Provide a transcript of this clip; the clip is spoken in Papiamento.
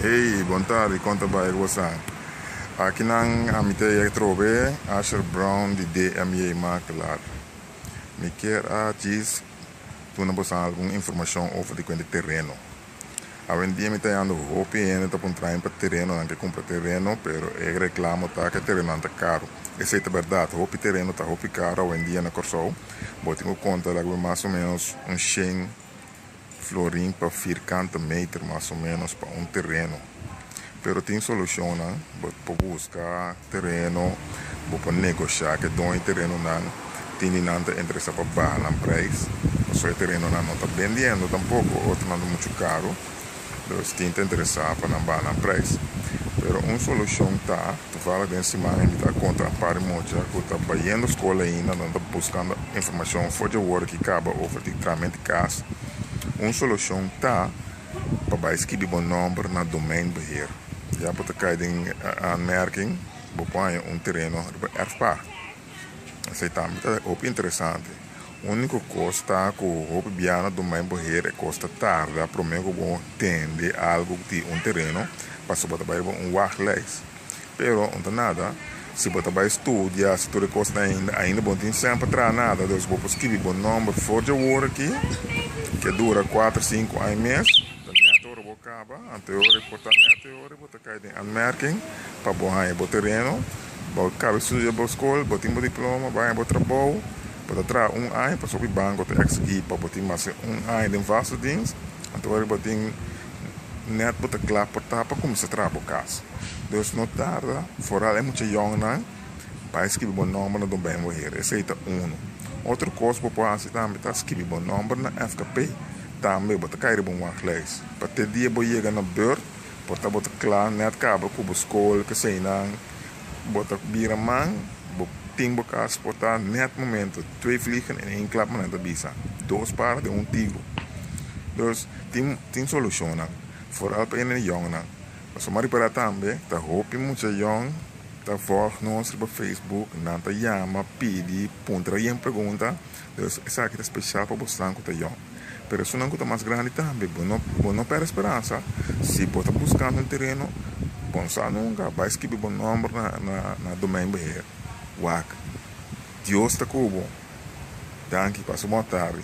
Ey, bon tardi, konta bai e gosan. Akinan a mi ta yeg trobe, Asher Brown di DMJ Makelaar. Mi kier a djis duna bosan algun informashon over di kuenta tereno. Awendia mi ta yando hopi hende ta puntra mi pa terenonan ke kumpra tereno, pero e reklamo ta ke terenonan ta karu. Esei ta bèrdat, hopi tereno ta hopi karu awendia na Kòrsou. Bo tin ku konta laga mi mas o menos un shen. Florin pa firkanta meter mas o menos pa un tereno. Pero tin solucionnan, bo por busca tereno, bo por negocia cu e doño di terenonan, tin di nan ta interesa pa baha nan prijs, pasobra e terenonan no ta bendiendo tampoco, otronan ta mucho caro, dus tin ta interesa pa nan baha nan prijs. Pero un solucion ta. Vara den siman mi ta kontra un par di mocha ku ta bayendo skol ainda nan ta buskando informashon for dje wòrdu ki kaba over di tramen di kas. Un solushon ta pa bai skibi bo nòmber na domeinbeheer. Ya bo ta kai den aanmerking bo por haña un tereno riba erfpaar. Esei tambe ta hopi interesante. Úniko kos ta ku hopi bia no duma e boher e kos ta tarda promé ku bo tende algu ku tin un tereno pasobra bo ta bai riba un wachtlijst. Pero, unta nada, si bo ta bai studia, si tur e kos ta ainda, ainda bo no tin sèn pa traha nada. Dus bo por skibi bo nòmber for di awor aki, ke dura kuater, sinku aña mes, ta nèt ora bo kaba, anterior e por ta nèt e ora Bo ta kai den anmerking pa bo haña bo tereno, bo a kaba studia bo skol, bo tin bo diploma, bo haña bo trabou, bo ta traha un aña pasobra ku e banko ta eksigí pa bo tin mas ke un aña den vastediens, anto ora ku bo tin nèt bo ta kla pa ta pa kuminsá traha bo kas. Dus no tarda, foral e mucha yòngnan, bai skibi bo nòmber na Don Bènbo Hera, esei ta unu. Otro kos bo por hasi tambe ta skibi bo nòmber na FKP, tambe bo ta kai riba un waglijst pa te dia bo yega na bèurt, Por ta bo ta kla nèt kabra ku bo skol keseinan bo ta bira man bo tin bo kas spotá nèt momento twee vliegen in één klap manan ta bisa dos pára den un tiro dus tin tin solushonnan foral pa ene yòngnan pasobra m'a ripará tambe ta hopi mucha yòn ta vòlg nos riba facebook nan ta yama pidi puntra yen pregunta Esaki ta spesial pa bosnan ku ta yòn. Pero esunnan ku ta mas grandi tambe, bo no bo no pèrdè speransa. Si bo ta buskando un tereno, bon sa nunka bai skibi bo nòmber na na na domèin beheer. Wak. Dios ta ku bo. Danki. Pasa un bon atardi.